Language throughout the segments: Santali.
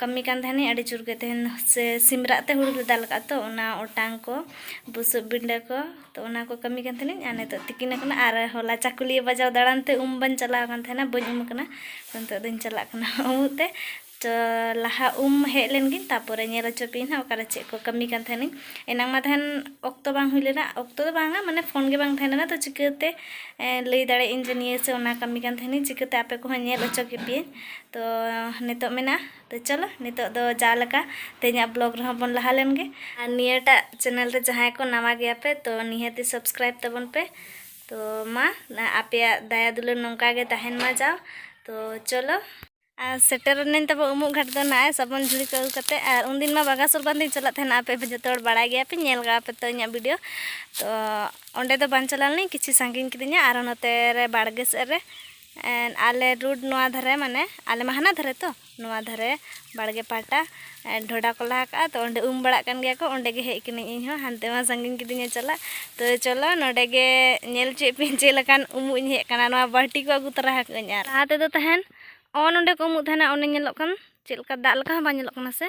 ᱠᱟᱹᱢᱤ ᱠᱟᱱ ᱛᱟᱦᱮᱱᱤᱧ ᱟᱹᱰᱤ ᱡᱳᱨ ᱜᱮ ᱛᱟᱦᱮᱱ ᱥᱮ ᱥᱤᱢ ᱨᱟᱜ ᱛᱮ ᱦᱩᱲᱩ ᱞᱮ ᱫᱟᱞ ᱠᱟᱜᱼᱟ ᱛᱚ ᱚᱱᱟ ᱚᱴᱟᱝ ᱠᱚ ᱵᱩᱥᱩᱵ ᱵᱤᱸᱰᱟᱹ ᱠᱚ ᱛᱚ ᱚᱱᱟ ᱠᱚ ᱠᱟᱹᱢᱤ ᱠᱟᱱ ᱛᱟᱦᱮᱱᱤᱧ ᱟᱨ ᱱᱤᱛᱚᱜ ᱛᱤᱠᱤᱱ ᱟᱠᱟᱱᱟ ᱟᱨ ᱦᱚᱞᱟ ᱪᱟᱹᱠᱩᱞᱤᱭᱟᱹ ᱵᱟᱡᱟᱣ ᱫᱟᱬᱟᱱ ᱛᱮ ᱩᱢ ᱵᱟᱹᱧ ᱪᱟᱞᱟᱣ ᱟᱠᱟᱱ ᱛᱟᱦᱮᱱᱟ ᱵᱟᱹᱧ ᱩᱢ ᱟᱠᱟᱱᱟ ᱛᱚ ᱱᱤᱛᱚᱜ ᱫᱚᱧ ᱪᱟᱞᱟᱜ ᱠᱟᱱᱟ ᱩᱢᱩᱜ ᱛᱮ ᱛᱚ ᱞᱟᱦᱟ ᱩᱢ ᱦᱮᱡ ᱞᱮᱱ ᱜᱤᱧ ᱛᱟᱨᱯᱚᱨᱮ ᱧᱮᱞ ᱦᱚᱪᱚ ᱯᱮᱭᱟᱹᱧ ᱦᱟᱸᱜ ᱚᱠᱟᱨᱮ ᱪᱮᱫ ᱠᱚ ᱠᱟᱹᱢᱤ ᱠᱟᱱ ᱛᱟᱦᱮᱱᱤᱧ ᱮᱱᱟᱝ ᱢᱟ ᱛᱟᱦᱮᱱ ᱚᱠᱛᱚ ᱵᱟᱝ ᱦᱩᱭ ᱞᱮᱱᱟ ᱚᱠᱛᱚ ᱫᱚ ᱵᱟᱝᱟ ᱢᱟᱱᱮ ᱯᱷᱳᱱ ᱜᱮ ᱵᱟᱝ ᱛᱟᱦᱮᱸ ᱞᱮᱱᱟ ᱛᱚ ᱪᱤᱠᱟᱹᱛᱮ ᱞᱟᱹᱭ ᱫᱟᱲᱮᱭᱟᱜ ᱟᱹᱧ ᱡᱮ ᱱᱤᱭᱟᱹ ᱥᱮ ᱚᱱᱟ ᱠᱟᱹᱢᱤ ᱠᱟᱱ ᱛᱟᱦᱮᱱᱤᱧ ᱪᱤᱠᱟᱹᱛᱮ ᱟᱯᱮ ᱠᱚᱦᱚᱸ ᱧᱮᱞ ᱦᱚᱪᱚ ᱠᱮᱯᱮᱭᱟᱹᱧ ᱛᱚ ᱱᱤᱛᱚᱜ ᱢᱮᱱᱟ ᱛᱚ ᱪᱚᱞᱚ ᱱᱤᱛᱚᱜ ᱫᱚ ᱡᱟ ᱞᱮᱠᱟ ᱛᱮᱦᱮᱧᱟᱜ ᱵᱞᱚᱜ ᱨᱮᱦᱚᱸ ᱵᱚᱱ ᱞᱟᱦᱟ ᱞᱮᱱ ᱜᱮ ᱟᱨ ᱱᱤᱭᱟᱹᱴᱟᱜ ᱪᱮᱱᱮᱞ ᱨᱮ ᱡᱟᱦᱟᱸᱭ ᱠᱚ ᱱᱟᱣᱟ ᱜᱮᱭᱟ ᱯᱮ ᱛᱚ ᱱᱤᱦᱟᱹᱛᱤ ᱥᱟᱵᱥᱠᱨᱟᱭᱤᱵ ᱛᱟᱵᱚᱱ ᱯᱮ ᱛᱚ ᱢᱟ ᱟᱯᱮᱭᱟᱜ ᱫᱟᱭᱟ ᱫᱩᱞᱟᱹᱲ ᱱᱚᱝᱠᱟ ᱜᱮ ᱛᱟᱦᱮᱱ ᱢᱟ ᱡᱟᱣ ᱛᱚ ᱪᱚᱞᱚ ᱟᱨ ᱥᱮᱴᱮᱨ ᱮᱱᱟᱹᱧ ᱛᱟᱵᱚ ᱩᱢᱩᱜ ᱜᱷᱟᱴ ᱫᱚ ᱱᱟᱜ ᱥᱟᱵᱚᱱ ᱡᱷᱩᱲᱤ ᱠᱚ ᱟᱹᱜᱩ ᱠᱟᱛᱮ ᱟᱨ ᱩᱱ ᱫᱤᱱ ᱢᱟ ᱵᱟᱜᱟ ᱥᱚᱨᱵᱟᱱ ᱫᱤᱱ ᱪᱟᱞᱟᱜ ᱛᱟᱦᱮᱱᱟ ᱟᱯᱮ ᱯᱮ ᱡᱚᱛᱚ ᱦᱚᱲ ᱵᱟᱲᱟᱭ ᱜᱮᱭᱟ ᱯᱮ ᱧᱮᱞ ᱜᱟᱣ ᱯᱮ ᱛᱚ ᱤᱧᱟᱹᱜ ᱵᱷᱤᱰᱤᱭᱳ ᱛᱚ ᱚᱸᱰᱮ ᱫᱚ ᱵᱟᱝ ᱪᱟᱞᱟᱣ ᱞᱮᱱᱟᱹᱧ ᱠᱤᱪᱷᱩ ᱥᱟᱺᱜᱤᱧ ᱠᱤᱫᱤᱧᱟ ᱟᱨ ᱱᱚᱛᱮ ᱨᱮ ᱵᱟᱲᱜᱮ ᱥᱮᱫ ᱨᱮ ᱮᱸ ᱟᱞᱮ ᱨᱳᱰ ᱱᱚᱣᱟ ᱫᱷᱟᱨᱮ ᱢᱟᱱᱮ ᱟᱞᱮ ᱢᱟ ᱦᱟᱱᱟ ᱫᱷᱟᱨᱮ ᱛᱚ ᱱᱚᱣᱟ ᱫᱷᱟᱨᱮ ᱵᱟᱲᱜᱮ ᱯᱟᱦᱴᱟ ᱰᱷᱚᱰᱟ ᱠᱚ ᱞᱟ ᱟᱠᱟᱫᱼᱟ ᱛᱚ ᱚᱸᱰᱮ ᱩᱢ ᱵᱟᱲᱟᱜ ᱠᱟᱱ ᱜᱮᱭᱟ ᱠᱚ ᱚᱸᱰᱮ ᱜᱮ ᱦᱮᱡ ᱟᱠᱟᱱᱟᱹᱧ ᱤᱧ ᱦᱚᱸ ᱦᱟᱱᱛᱮ ᱢᱟ ᱥᱟᱺᱜᱤᱧ ᱠᱤᱫᱤᱧᱟ ᱪᱟᱞᱟᱜ ᱛᱚ ᱪᱚᱞᱚ ᱱᱚᱸᱰᱮ ᱜᱮ ᱧᱮᱞ ᱦᱚᱪᱚᱭᱮᱫ ᱯᱮᱭᱟᱹᱧ ᱪᱮᱫ ᱞᱮᱠᱟᱱ ᱩᱢᱩᱜ ᱤᱧ ᱦᱮᱡ ᱟᱠᱟᱱᱟ ᱱᱚᱣᱟ ᱵᱟᱹᱞᱴᱤ ᱠᱚ ᱟᱹᱜᱩ ᱛᱚᱨᱟ ᱟᱠᱟᱫᱟᱹᱧ ᱟᱨ ᱞᱟᱦᱟ ᱛᱮᱫᱚ ᱛᱟᱦᱮᱱ ᱚ ᱱᱚᱸᱰᱮ ᱠᱚ ᱩᱢᱩᱜ ᱛᱟᱦᱮᱱᱟ ᱚᱱᱮ ᱧᱮᱞᱚᱜ ᱠᱟᱱ ᱪᱮᱫ ᱞᱮᱠᱟ ᱫᱟᱜ ᱞᱮᱠᱟ ᱦᱚᱸ ᱵᱟᱝ ᱧᱮᱞᱚᱜ ᱠᱟᱱᱟ ᱥᱮ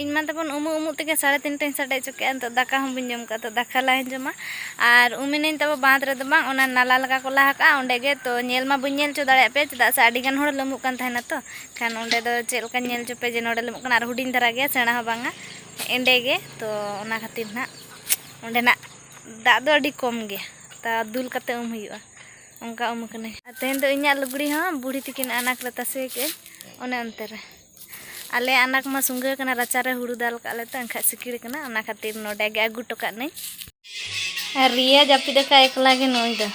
ᱤᱧ ᱢᱟ ᱛᱟᱵᱚᱱ ᱩᱢᱩᱜ ᱩᱢᱩᱜ ᱛᱮᱜᱮ ᱥᱟᱲᱮ ᱛᱤᱱᱴᱟᱹᱧ ᱥᱟᱰᱮ ᱦᱚᱪᱚ ᱠᱮᱫᱼᱟ ᱱᱤᱛᱚᱜ ᱫᱟᱠᱟ ᱦᱚᱸ ᱵᱟᱹᱧ ᱡᱚᱢ ᱠᱟᱜᱼᱟ ᱛᱚ ᱫᱟᱠᱟ ᱞᱟᱦᱟᱧ ᱡᱚᱢᱟ ᱟᱨ ᱩᱢᱮᱱᱟᱹᱧ ᱛᱟᱵᱚ ᱵᱟᱸᱫᱽ ᱨᱮᱫᱚ ᱵᱟᱝ ᱚᱱᱟ ᱱᱟᱞᱟ ᱞᱮᱠᱟ ᱠᱚ ᱞᱟ ᱟᱠᱟᱫᱼᱟ ᱚᱸᱰᱮ ᱜᱮ ᱛᱚ ᱧᱮᱞ ᱢᱟ ᱵᱟᱹᱧ ᱧᱮᱞ ᱦᱚᱪᱚ ᱫᱟᱲᱮᱭᱟᱫ ᱯᱮᱭᱟ ᱪᱮᱫᱟᱜ ᱥᱮ ᱟᱹᱰᱤ ᱜᱟᱱ ᱦᱚᱲ ᱞᱟᱹᱢᱩᱜ ᱠᱟᱱ ᱛᱟᱦᱮᱱᱟ ᱛᱚ ᱠᱷᱟᱱ ᱚᱸᱰᱮ ᱫᱚ ᱪᱮᱫ ᱞᱮᱠᱟᱧ ᱧᱮᱞ ᱦᱚᱪᱚ ᱯᱮᱭᱟ ᱡᱮ ᱱᱚᱸᱰᱮ ᱞᱟᱹᱢᱩᱜ ᱠᱟᱱᱟ ᱟᱨ ᱦᱩᱰᱤᱧ ᱫᱷᱟᱨᱟ ᱜᱮᱭᱟ ᱥᱮᱬᱟ ᱦᱚᱸ ᱵᱟᱝᱟ ᱮᱸᱰᱮ ᱜᱮ ᱛᱚ ᱚᱱᱟ ᱠᱷᱟᱹᱛᱤᱨ ᱱᱟᱜ ᱚᱸᱰᱮᱱᱟᱜ ᱫᱟᱜ ᱫᱚ ᱟᱹᱰᱤ ᱠᱚᱢ ᱜᱮᱭᱟ ᱛᱟ ᱫᱩᱞ ᱠᱟᱛᱮ ᱩᱢ ᱦᱩᱭᱩᱜᱼᱟ ᱚᱱᱠᱟ ᱩᱢ ᱠᱟᱹᱱᱟᱹᱧ ᱛᱮᱦᱮᱧ ᱫᱚ ᱤᱧᱟᱹᱜ ᱞᱩᱜᱽᱲᱤ ᱦᱚᱸ ᱵᱩᱲᱦᱤ ᱛᱤᱠᱤᱱ ᱟᱱᱟᱴ ᱨᱮ ᱛᱟᱥᱮ ᱠᱮᱫᱼᱟᱹᱧ ᱚᱱᱮ ᱚᱱᱛᱮ ᱨᱮ ᱟᱞᱮ ᱟᱱᱟᱠ ᱢᱟ ᱥᱩᱝᱜᱟᱹ ᱠᱟᱱᱟ ᱨᱟᱪᱟ ᱨᱮ ᱦᱩᱲᱩ ᱫᱟᱞ ᱠᱟᱜ ᱞᱮ ᱛᱚ ᱮᱱᱠᱷᱟᱡ ᱥᱤᱠᱤᱲ ᱠᱟᱱᱟ ᱚᱱᱟ ᱠᱷᱟᱹᱛᱤᱨ ᱱᱚᱰᱮ ᱜᱮ ᱟᱹᱜᱩ ᱦᱚᱴᱚ ᱠᱟᱜ ᱱᱟᱹᱧ ᱟᱨ ᱨᱤᱭᱟ ᱡᱟᱹᱯᱤᱫ ᱟᱠᱟᱫ ᱮᱠᱞᱟ ᱜᱮ ᱱᱩᱭ ᱫᱚ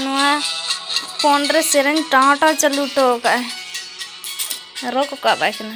ᱱᱚᱣᱟ ᱯᱷᱳᱱ ᱨᱮ ᱥᱮᱨᱮᱧ ᱴᱟᱶ ᱴᱟᱶ ᱪᱟᱹᱞᱩ ᱦᱚᱴᱚ ᱠᱟᱜᱼᱟᱭ ᱨᱚᱜ ᱠᱟᱜ ᱵᱟᱭ ᱠᱟᱱᱟ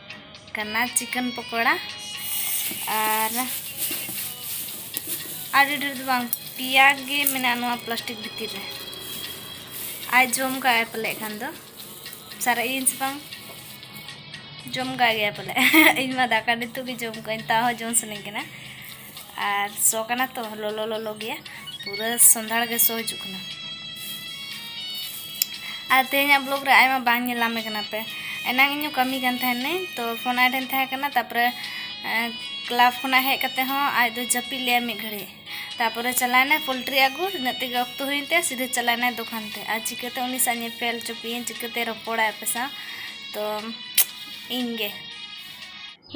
ᱠᱟᱱᱟ ᱪᱤᱠᱮᱱ ᱯᱚᱠᱚᱲᱟ ᱟᱨ ᱟᱹᱰᱤ ᱰᱷᱮᱨ ᱫᱚ ᱵᱟᱝ ᱯᱮᱭᱟ ᱜᱮ ᱢᱮᱱᱟᱜᱼᱟ ᱱᱚᱣᱟ ᱯᱞᱟᱥᱴᱤᱠ ᱵᱷᱤᱛᱤᱨ ᱨᱮ ᱟᱡ ᱡᱚᱢ ᱠᱟᱜ ᱟᱭ ᱯᱟᱞᱮ ᱠᱷᱟᱱ ᱫᱚ ᱥᱟᱨᱮᱡ ᱤᱧ ᱥᱮ ᱵᱟᱝ ᱡᱚᱢ ᱠᱟᱜ ᱜᱮᱭᱟ ᱯᱟᱞᱮ ᱤᱧ ᱢᱟ ᱫᱟᱠᱟ ᱱᱤᱛᱚᱜ ᱜᱮ ᱡᱚᱢ ᱠᱟᱜ ᱟᱹᱧ ᱛᱟᱣ ᱦᱚᱸ ᱡᱚᱢ ᱥᱟᱱᱟᱧ ᱠᱟᱱᱟ ᱟᱨ ᱥᱚ ᱠᱟᱱᱟ ᱛᱚ ᱞᱚᱞᱚ ᱞᱚᱞᱚ ᱜᱮᱭᱟ ᱯᱩᱨᱟᱹ ᱥᱚᱸᱫᱷᱟᱲ ᱜᱮ ᱥᱚ ᱦᱤᱡᱩᱜ ᱠᱟᱱᱟ ᱟᱨ ᱛᱮᱦᱮᱧᱟᱜ ᱵᱞᱚᱜ ᱨᱮ ᱟᱭᱢᱟ ᱵᱟᱝ ᱧᱮᱞᱟᱢᱮ ᱠᱟᱱᱟ ᱯᱮ ᱮᱱᱟᱝ ᱤᱧ ᱠᱟᱹᱢᱤ ᱠᱟᱱ ᱛᱟᱦᱮᱱᱟᱹᱧ ᱛᱚ ᱯᱷᱳᱱ ᱟᱭ ᱴᱷᱮᱱ ᱛᱟᱦᱮᱸ ᱠᱟᱱᱟ ᱛᱟᱯᱚᱨᱮ ᱠᱞᱟᱵ ᱠᱷᱚᱱᱟᱜ ᱦᱮᱡ ᱠᱟᱛᱮ ᱦᱚᱸ ᱟᱡ ᱫᱚ ᱡᱟᱹᱯᱤᱫ ᱞᱮᱭᱟ ᱢᱤᱫ ᱜᱷᱟᱹᱲᱤᱡ ᱛᱟᱯᱚᱨᱮ ᱪᱟᱞᱟᱣᱱᱟᱭ ᱯᱳᱞᱴᱨᱤ ᱟᱹᱜᱩ ᱤᱱᱟᱹᱜ ᱛᱮᱜᱮ ᱚᱠᱛᱚ ᱦᱩᱭᱮᱱ ᱛᱟᱭᱟ ᱥᱤᱫᱷᱟᱹ ᱪᱟᱞᱟᱣᱱᱟᱭ ᱫᱚᱠᱟᱱ ᱛᱮ ᱟᱨ ᱪᱤᱠᱟᱹᱛᱮ ᱩᱱᱤ ᱥᱟᱶ ᱧᱮᱯᱮᱞ ᱪᱚᱯᱮᱭᱟᱹᱧ ᱪᱤᱠᱟᱹᱛᱮ ᱨᱚᱯᱚᱲᱟᱭ ᱟᱯᱮ ᱥᱟᱶ ᱛᱚ ᱤᱧᱜᱮ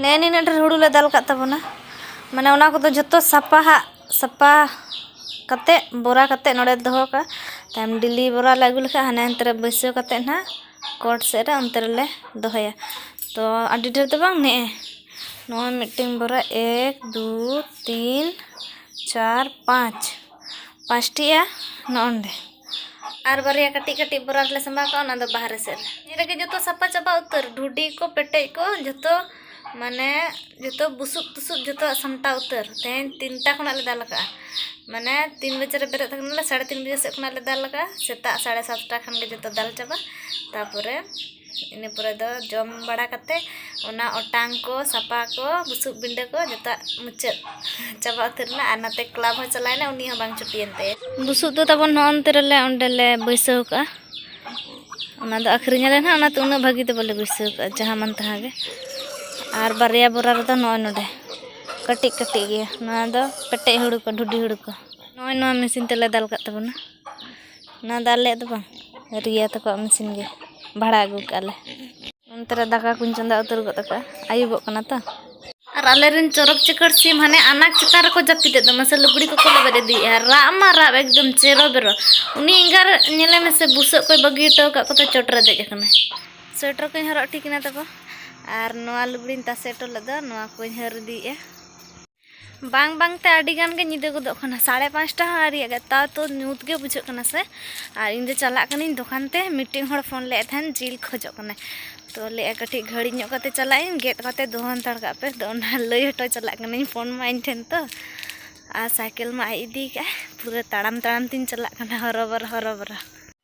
ᱱᱮᱜᱼᱮ ᱱᱤᱱᱟᱹᱜ ᱰᱷᱮᱨ ᱦᱩᱲᱩ ᱞᱮ ᱫᱟᱞ ᱠᱟᱜ ᱛᱟᱵᱚᱱᱟ ᱢᱟᱱᱮ ᱚᱱᱟ ᱠᱚᱫᱚ ᱡᱷᱚᱛᱚ ᱥᱟᱯᱷᱟ ᱦᱟᱜ ᱥᱟᱯᱷᱟ ᱠᱟᱛᱮᱫ ᱵᱚᱨᱟ ᱠᱟᱛᱮᱫ ᱱᱚᱰᱮ ᱫᱚᱦᱚ ᱠᱟᱜᱼᱟ ᱛᱟᱭᱚᱢ ᱰᱮᱞᱤ ᱵᱚᱨᱟ ᱞᱮ ᱟᱹᱜᱩ ᱞᱮᱠᱷᱟᱡ ᱦᱟᱱᱮ ᱦᱟᱱᱛᱮ ᱨᱮ ᱵᱟᱹᱭᱥᱟᱹᱣ ᱠᱟᱛᱮᱫ ᱦᱟᱸᱜ ᱠᱳᱴ ᱥᱮᱫ ᱨᱮ ᱚᱱᱛᱮ ᱨᱮᱞᱮ ᱫᱚᱦᱚᱭᱟ ᱛᱚ ᱟᱹᱰᱤ ᱰᱷᱮᱨ ᱫᱚ ᱵᱟᱝ ᱱᱮᱜᱼᱮ ᱱᱚᱜᱼᱚᱭ ᱢᱤᱫᱴᱮᱱ ᱵᱚᱨᱟ ᱮᱠ ᱫᱩ ᱛᱤᱱ ᱪᱟᱨ ᱯᱟᱸᱪ ᱯᱟᱸᱪᱴᱤᱜᱼᱟ ᱱᱚᱜᱼᱚᱸᱰᱮ ᱟᱨ ᱵᱟᱨᱭᱟ ᱠᱟᱹᱴᱤᱡ ᱠᱟᱹᱴᱤᱡ ᱵᱚᱨᱟ ᱨᱮᱞᱮ ᱥᱟᱢᱵᱟᱣ ᱠᱟᱜᱼᱟ ᱚᱱᱟ ᱫᱚ ᱵᱟᱦᱨᱮ ᱥᱮᱫ ᱨᱮ ᱱᱤᱭᱟᱹ ᱨᱮᱜᱮ ᱡᱚᱛᱚ ᱥᱟᱯᱷᱟ ᱪᱟᱵᱟ ᱩᱛᱟᱹᱨ ᱰᱷᱩᱰᱤ ᱠᱚ ᱯᱮᱴᱮᱡ ᱠᱚ ᱡᱚᱛᱚ ᱢᱟᱱᱮ ᱡᱚᱛᱚ ᱵᱩᱥᱩᱵ ᱛᱩᱥᱩᱵ ᱡᱚᱛᱚ ᱥᱟᱢᱴᱟᱣ ᱩᱛᱟᱹᱨ ᱛᱮᱦᱮᱧ ᱛᱤᱱᱴᱟ ᱠᱷᱚᱱᱟᱜ ᱞᱮ ᱫᱟᱞ ᱠᱟᱜᱼᱟ ᱢᱟᱱᱮ ᱛᱤᱱ ᱵᱟᱡᱮ ᱨᱮ ᱵᱮᱨᱮᱫ ᱠᱟᱱᱟᱞᱮ ᱥᱟᱲᱮ ᱛᱤᱱ ᱵᱟᱡᱮ ᱥᱮᱫ ᱠᱷᱚᱱᱟᱜ ᱞᱮ ᱫᱟᱞ ᱠᱟᱜᱼᱟ ᱥᱮᱛᱟᱜ ᱥᱟᱲᱮ ᱥᱟᱛᱴᱟ ᱠᱷᱟᱱ ᱜᱮ ᱡᱚᱛᱚ ᱫᱟᱞ ᱪᱟᱵᱟ ᱛᱟᱨᱯᱚᱨᱮ ᱤᱱᱟᱹ ᱯᱚᱨᱮ ᱫᱚ ᱡᱚᱢ ᱵᱟᱲᱟ ᱠᱟᱛᱮ ᱚᱱᱟ ᱚᱴᱟᱝ ᱠᱚ ᱥᱟᱯᱷᱟ ᱠᱚ ᱵᱩᱥᱩᱵ ᱵᱤᱸᱰᱟᱹ ᱠᱚ ᱡᱚᱛᱚᱣᱟᱜ ᱢᱩᱪᱟᱹᱫ ᱪᱟᱵᱟ ᱩᱛᱟᱹᱨ ᱮᱱᱟ ᱟᱨ ᱱᱟᱛᱮ ᱠᱞᱟᱵᱽ ᱦᱚᱸ ᱪᱟᱞᱟᱣᱮᱱᱟ ᱩᱱᱤ ᱦᱚᱸ ᱵᱟᱝ ᱪᱷᱩᱴᱤᱭᱮᱱ ᱛᱟᱭᱟ ᱵᱩᱥᱩᱵ ᱫᱚ ᱛᱟᱵᱚᱱ ᱱᱚᱜᱼᱚ ᱱᱚᱛᱮ ᱨᱮᱞᱮ ᱚᱸᱰᱮ ᱞᱮ ᱵᱟᱹᱭᱥᱟᱹᱣ ᱠᱟᱜᱼᱟ ᱚᱱᱟ ᱫᱚ ᱟᱹᱠᱷᱨᱤᱧ ᱟᱞᱮ ᱦᱟᱸᱜ ᱚᱱᱟᱛᱮ ᱩᱱᱟᱹᱜ ᱵᱷᱟᱹᱜᱤ ᱫᱚ ᱵᱟᱞᱮ ᱵᱟᱹᱭᱥᱟᱹᱣ ᱠᱟᱜᱼᱟ ᱡᱟᱦᱟᱸ ᱢᱟᱱ ᱛᱟᱦᱟᱸ ᱜᱮ ᱟᱨ ᱵᱟᱨᱭᱟ ᱵᱚᱨᱟ ᱨᱮᱫᱚ ᱱᱚᱜᱼᱚᱭ ᱱᱚᱰᱮ ᱠᱟᱹᱴᱤᱡ ᱠᱟᱹᱴᱤᱡ ᱜᱮᱭᱟ ᱱᱚᱣᱟ ᱫᱚ ᱯᱮᱴᱮᱡ ᱦᱩᱲᱩ ᱠᱚ ᱰᱷᱩᱰᱤ ᱦᱩᱲᱩ ᱠᱚ ᱱᱚᱜᱼᱚᱭ ᱱᱚᱣᱟ ᱢᱮᱹᱥᱤᱱ ᱛᱮᱞᱮ ᱫᱟᱞ ᱠᱟᱜ ᱛᱟᱵᱚᱱᱟ ᱚᱱᱟ ᱫᱚ ᱟᱞᱮᱭᱟᱜ ᱫᱚ ᱵᱟᱝ ᱨᱤᱭᱟ ᱛᱟᱠᱚᱣᱟᱜ ᱢᱮᱥᱤᱱ ᱜᱮ ᱵᱷᱟᱲᱟ ᱟᱹᱜᱩ ᱠᱟᱜᱼᱟ ᱞᱮ ᱚᱱᱛᱮ ᱨᱮ ᱫᱟᱠᱟ ᱠᱚᱧ ᱪᱚᱸᱫᱟ ᱩᱛᱟᱹᱨ ᱜᱚᱫ ᱠᱟᱜᱼᱟ ᱟᱹᱭᱩᱵᱚᱜ ᱠᱟᱱᱟ ᱛᱚ ᱟᱨ ᱟᱞᱮ ᱨᱮᱱ ᱪᱚᱨᱚᱠ ᱪᱤᱠᱟᱹᱲ ᱥᱤᱢ ᱦᱟᱱᱮ ᱟᱱᱟᱡᱽ ᱪᱮᱛᱟᱱ ᱨᱮᱠᱚ ᱡᱟᱹᱯᱤᱫᱮᱫ ᱫᱚ ᱢᱟᱥᱮ ᱞᱩᱜᱽᱲᱤ ᱠᱚᱠᱚ ᱞᱮᱵᱮᱫ ᱤᱫᱤᱭᱮᱫᱼᱟ ᱨᱟᱜ ᱢᱟ ᱨᱟᱜ ᱮᱠᱫᱚᱢ ᱪᱮᱨᱚ ᱵᱮᱨᱚ ᱩᱱᱤ ᱮᱸᱜᱟ ᱧᱮᱞᱮ ᱢᱮᱥᱮ ᱵᱩᱥᱟᱹᱜ ᱠᱚᱭ ᱵᱟᱹᱜᱤ ᱦᱚᱴᱚ ᱟᱠᱟᱫ ᱠᱚᱛᱮ ᱪᱚᱴ ᱨᱮ ᱫᱮᱡ ᱟᱠᱟᱱᱟᱭ ᱥᱳᱭᱮᱴᱟᱨ ᱠᱚᱧ ᱦᱚᱨᱚᱜ ᱴᱷᱤᱠ ᱮᱱᱟ ᱛᱟᱠᱚ ᱟᱨ ᱱᱚᱣᱟ ᱞᱩᱜᱽᱲᱤᱧ ᱛᱟᱥᱮ ᱦᱚᱴᱚ ᱞᱮᱫᱟ ᱱᱚᱣᱟ ᱠᱚᱧ ᱦᱟᱹᱨ ᱤᱫᱤᱭᱮᱫᱼᱟ ᱵᱟᱝ ᱵᱟᱝ ᱛᱮ ᱟᱹᱰᱤ ᱜᱟᱱ ᱜᱮ ᱧᱤᱫᱟᱹ ᱜᱚᱫᱚᱜ ᱠᱟᱱᱟ ᱥᱟᱲᱮ ᱯᱟᱸᱪᱴᱟ ᱦᱚᱸ ᱟᱹᱣᱨᱤᱭᱟᱜ ᱜᱮ ᱛᱟᱣ ᱛᱚ ᱧᱩᱛ ᱜᱮ ᱵᱩᱡᱷᱟᱹᱜ ᱠᱟᱱᱟ ᱥᱮ ᱟᱨ ᱤᱧ ᱫᱚ ᱪᱟᱞᱟᱜ ᱠᱟᱹᱱᱟᱹᱧ ᱫᱚᱠᱟᱱ ᱛᱮ ᱢᱤᱫᱴᱮᱱ ᱦᱚᱲ ᱯᱷᱳᱱ ᱞᱮᱫ ᱛᱟᱦᱮᱱ ᱡᱤᱞ ᱠᱷᱚᱡᱚᱜ ᱠᱟᱱᱟᱭ ᱛᱚ ᱞᱟᱹᱭᱮᱫᱼᱟ ᱠᱟᱹᱴᱤᱡ ᱜᱷᱟᱹᱲᱤ ᱧᱚᱜ ᱠᱟᱛᱮ ᱪᱟᱞᱟᱜ ᱟᱹᱧ ᱜᱮᱫ ᱠᱟᱛᱮ ᱫᱚᱦᱚ ᱦᱟᱱᱛᱟᱲ ᱠᱟᱜ ᱯᱮ ᱛᱚ ᱚᱱᱟ ᱞᱟᱹᱭ ᱦᱚᱴᱚ ᱪᱟᱞᱟᱜ ᱠᱟᱹᱱᱟᱹᱧ ᱯᱷᱳᱱ ᱢᱟ ᱤᱧ ᱴᱷᱮᱱ ᱛᱚ ᱟᱨ ᱥᱟᱭᱠᱮᱞ ᱢᱟ ᱟᱡ ᱤᱫᱤ ᱠᱟᱜᱼᱟᱭ ᱯᱩᱨᱟᱹ ᱛᱟᱲᱟᱢ ᱛᱟᱲᱟᱢ ᱛᱤᱧ ᱪᱟᱞᱟᱜ ᱠᱟᱱᱟ ᱦᱚᱨᱚᱵᱚᱨᱚ ᱦᱚᱨᱚᱵᱚᱨᱚ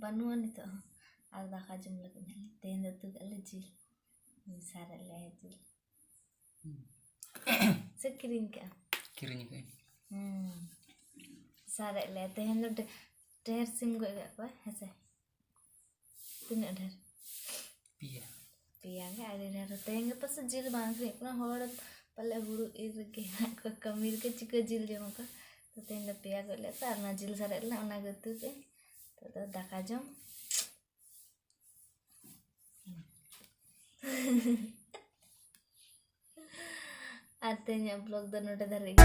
ᱵᱟᱹᱱᱩᱜᱼᱟ ᱱᱤᱛᱚᱜ ᱦᱚᱸ ᱟᱨ ᱫᱟᱠᱟ ᱡᱚᱢ ᱞᱟᱹᱜᱤᱫ ᱦᱟᱸᱜ ᱛᱮᱦᱮᱧ ᱫᱚ ᱩᱛᱩ ᱠᱟᱜᱼᱟ ᱞᱮ ᱡᱤᱞ ᱥᱟᱨᱮᱡ ᱞᱮ ᱡᱤᱞ ᱥᱮ ᱠᱤᱨᱤᱧ ᱠᱟᱜᱼᱟ ᱠᱤᱨᱤᱧ ᱠᱟᱜ ᱦᱩᱸ ᱥᱟᱨᱮᱡ ᱞᱮ ᱛᱮᱦᱮᱧ ᱫᱚ ᱰᱷᱮ- ᱰᱷᱮᱨ ᱥᱤᱢ ᱜᱚᱡ ᱠᱟᱜ ᱠᱚᱣᱟ ᱦᱮᱸᱥᱮ ᱛᱤᱱᱟᱹᱜ ᱰᱷᱮᱨ ᱯᱮᱭᱟ ᱯᱮᱭᱟ ᱜᱮ ᱟᱹᱰᱤ ᱰᱷᱮᱨ ᱛᱮᱦᱮᱧ ᱜᱟᱯᱟ ᱥᱮ ᱡᱤᱞ ᱵᱟᱝ ᱟᱹᱠᱷᱨᱤᱧᱚᱜ ᱠᱟᱱᱟ ᱦᱚᱲ ᱯᱟᱞᱮ ᱦᱩᱲᱩ ᱤᱨ ᱨᱮᱜᱮ ᱦᱮᱱᱟᱜ ᱠᱚᱣᱟ ᱠᱟᱹᱢᱤ ᱨᱮᱜᱮ ᱪᱤᱠᱟᱹ ᱡᱤᱞ ᱡᱚᱢ ᱟᱠᱚ ᱛᱚ ᱛᱮᱦᱮᱧ ᱫᱚ ᱯᱮᱭᱟ ᱜᱚᱡ ᱞᱮᱫ ᱠᱚᱣᱟ ᱟᱨ ᱚᱱᱟ ᱡᱤᱞ ᱥᱟᱨᱮᱡ ᱞᱮᱱᱟ ᱚᱱᱟ ᱜᱮ ᱩᱛᱩ ᱠᱮᱫ ᱟᱹᱧ ᱱᱤᱛᱚᱜ ᱫᱚ ᱫᱟᱠᱟ ᱡᱚᱢ ᱟᱨ ᱛᱮᱦᱮᱧᱟᱜ ᱵᱞᱚᱜ ᱫᱚ ᱱᱚᱰᱮ ᱫᱷᱟᱹᱨᱤᱡ ᱜᱮ